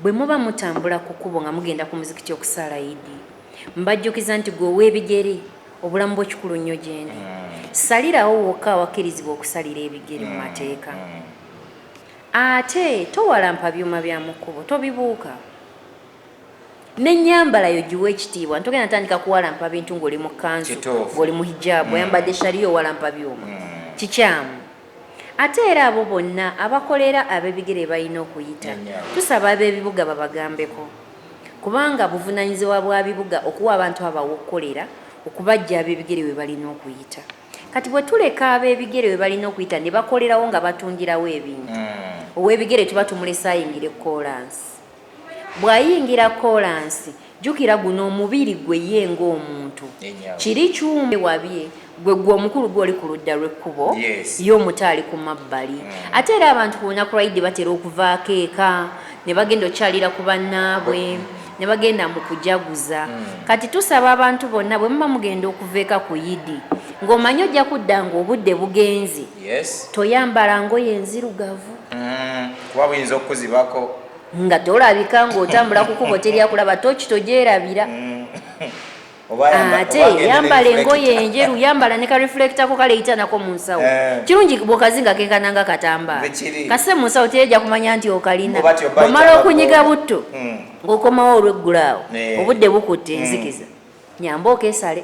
Bwe muba mutambula ku kkubo nga mugenda ku muzikiti okusaala Idi, mbajjukiza nti gwe ow'ebigere, obulamu bwo kikulu nnyo gyendi. Hmm. Salirawo wokka awakkirizibwa okusalira ebigere mu hmm. mateeka. Hmm. Ate towalampa byuma bya mu kkubo, tobibuuka. N'ennyambala yo giwa ekitiibwa, ntogenda tandika kuwalampa bintu ng'oli mu kkanzu, ng'oli mu hijaabu, oyambadde shariya owalampa byuma. Kikyamu. Ate era abo bonna abakolera abebigere balina okuyita. Tusaba abebibuga babagambeko kubanga buvunanyizibwa bwa bibuga okuwa abantu abo awokukolera okubajja abebigere webalina okuyita. Kati bwetuleka abebigere webalina okuyita nebakolerawo nga batundirawo ebintu, owebigere tuba tumulese ayingire koolansi. Bw'ayingira kkoolansi, jjukira guno omubiri gwe ye ng'omuntu. Kiri kyuma ewabye gwe, ggwe omukulu gwe oli ku ludda lw'ekkubo, ye omuto ali ku mabbali. Mm. Ate era abantu ku lunaku lwa Idi batera okuvaako eka ne bagenda okukyalira ku bannaabwe mm. ne bagenda mu kujaguza. Mm. Kati tusaba abantu bonna bwe muba mugenda okuva eka ku Idi ng'omanyi ojja kudda ng'obudde bugenze. yes toyambala ngoye enzirugavu mm, kuba buyinza okukuzibako nga tolabika ng'otambula kukubo teri akulaba toki togyerabira mm. ate yambala engoye enjeru yambala ne kareflectako kaleita nako mu nsawo eh. kirungi bwekazi nga kekananga katambaa kasise mu nsawo tereja kumanya nti okalina omala okunyiga butto mm. ng'okomawo olweggulaawo eh. obudde bukutte enzikiza Nyamba okesale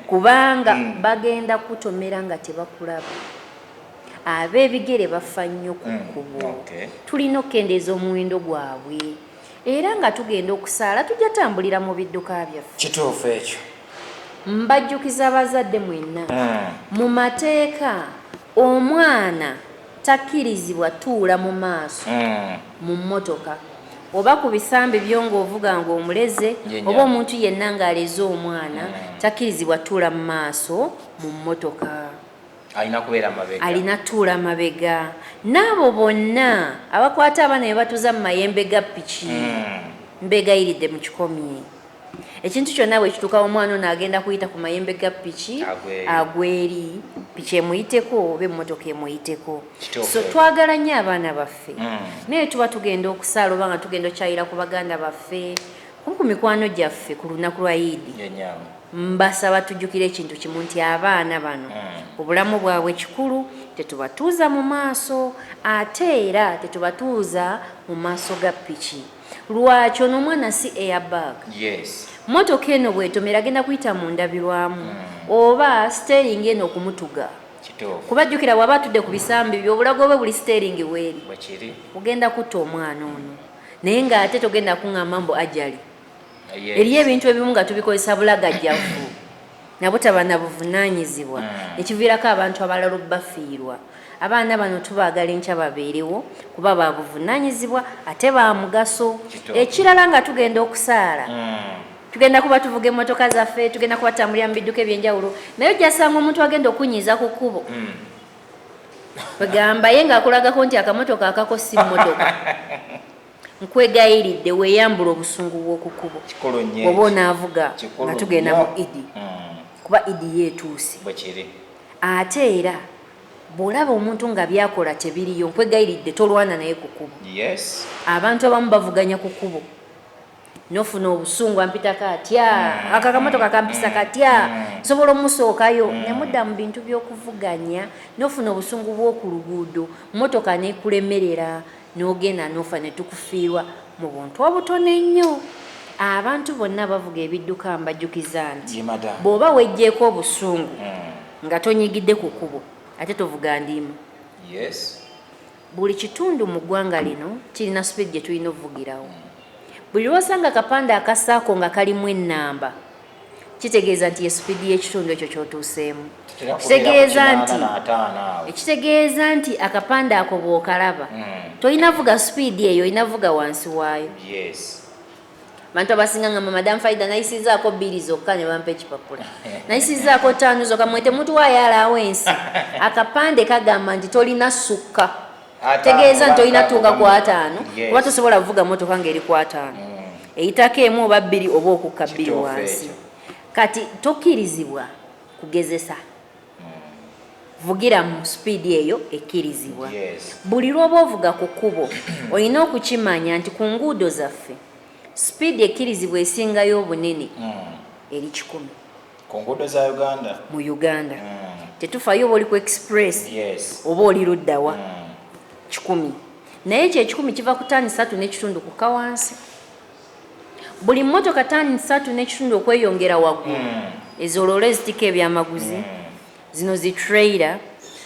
kubanga mm. bagenda kutomera nga tebakulaba ab'ebigere bafa nnyo ku mm. kkubo tulina okukendeeza omuwendo gwabwe era nga tugenda okusaala tujja tambulira mu bidduka byaffe kituufu ekyo mbajjukiza abazadde mwenna mm. mu mateeka omwana Takkirizibwa tuula mu maaso mu mmotoka oba ku bisambi byo ng'ovuga ng'omuleze oba omuntu yenna ng'aleze omwana takkirizibwa tuula mu maaso mu mmotoka. Alina kubeera mabega. Alina tuula mabega. N'abo bonna abakwata abaana ne batuuza mu mayembe ga piki mbeegayiridde mukikomye. ekintu kyonna bwe kituuka omwana ono agenda kuyita ku mayembe ga piki agweri piki emuyiteko oba emmotoka emuyiteko so twagala nnyo abaana baffe hmm. naye tuba tugenda okusaala oba nga tugenda okyayira ku baganda baffe kumu ku mikwano gyaffe ku lunaku lwa idi mbasaba tujjukire ekintu kimu nti abaana bano hmm. obulamu bwabwe kikulu tetubatuuza mu maaso ate era tetubatuuza mu maaso ga piki lwaki ono omwana si airbag yes. motoka eno bwetomera agenda kuyita mu ndabirwamu mm. oba stering eno okumutuga kuba jjukira waba atudde ku bisambi byo obulago bwe buli stering weeri ogenda kutta omwana ono naye ng'ate togenda kuŋŋamba mbu ajali eriyo ebintu ebimu nga tubikozesa bulagajjavu nabutaba na buvunaanyizibwa ne kiviirako abantu abalala obubafiirwa. Abaana bano tubaagala enkya babeerewo kuba ba buvunaanyizibwa ate ba mugaso. Ekirala nga tugenda okusaala tugenda kuba tuvuga emmotoka zaffe, tugenda kuba tutambulira mu bidduka eby'enjawulo naye ojja kusanga omuntu agenda okukunyiiza ku kkubo kwegamba ye ng'akulagako nti akamotoka akako si mmotoka. Nkwegayiridde weeyambule obusungu bw'oku kkubo bw'oba onaavuga nga tugenda mu Idi hmm. kuba Idi yo etuuse. Ate era bw'olaba omuntu nga by'akola tebiriyo nkwegayiridde tolwana naye ku kkubo. Abantu abamu bavuganya ku kkubo. nofuna obusungu ampita katya mm. ako akamotoka kampisa mm. katya mm. nsobola omusookayo nemudda mu bintu byokuvuganya nofuna obusungu bwoku luguudo motoka nekulemerera nogenda nofa netukufiirwa mu buntu obutono ennyo abantu bonna bavuga ebidduka mbajjukiza nti bwoba wejjeeko obusungu nga tonyigidde ku kubo ate tovuga ndiimu Buli kitundu mu ggwanga lino kirina supiidi gye tulina okuvugirawo. Buli lw'osanga akapande aka sacco nga kalimu ennamba, kitegeeza nti ye supiidi y'ekitundu ekyo ky'otuuseemu. Kitegeeza nti ekitegeeza nti akapande ako bw'okalaba hmm. tolina vuga supiidi eyo, olina vuga wansi waayo. Abantu abasinga ngamba madam Faida nayisizaako bbiri zokka ne bampa ekipapula nayisizaako ttaano zokka mwe temutuwaayo alaawo ensi akapande kagamba nti tolina sukka tegeeza nti olina tuuka ku ataano oba tosobola kuvuga motoka ng'eri ku ataano mm. eyitako emu oba bbiri oba okukka bbiri wansi kati tokkirizibwa kugezesa vugira mu sipiidi eyo ekkirizibwa buli lw'oba ovuga ku kkubo olina okukimanya nti ku nguudo zaffe sipiidi ekkirizibwa esingayo obunene hmm. eri kikumi ku nguudo za uganda mu uganda hmm. tetufayo oba oli ku express oba oli luddawa hmm. kikumi naye ekyo ekikumi kiva ku taani satu n'ekitundu kukka wansi Buli mmotoka taani ssatu n'ekitundu okweyongera waggulu ezo loola ezitikka ebyamaguzi, zino zi trailer,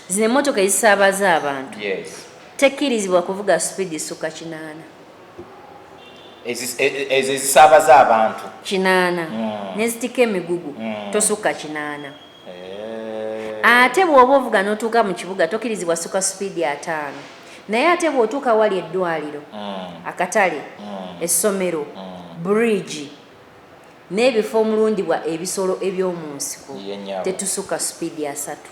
zino emmotoka ezisaabaza abantu tekkirizibwa kuvuga sipiidi esukka kinaana. E, e, ezo ezisaabaza abantu kinaana hmm. n'ezitikka emigugu hmm. tosukka kinaana. eh. ate bw'oba ovuga n'otuuka mu kibuga tokirizibwa suka supiidi ataano naye ate bw'otuuka wali eddwaliro mm. akatale mm. essomero mm. bridge n'ebifo omulundibwa ebisolo eby'omu nsiko tetusuka supiidi asatu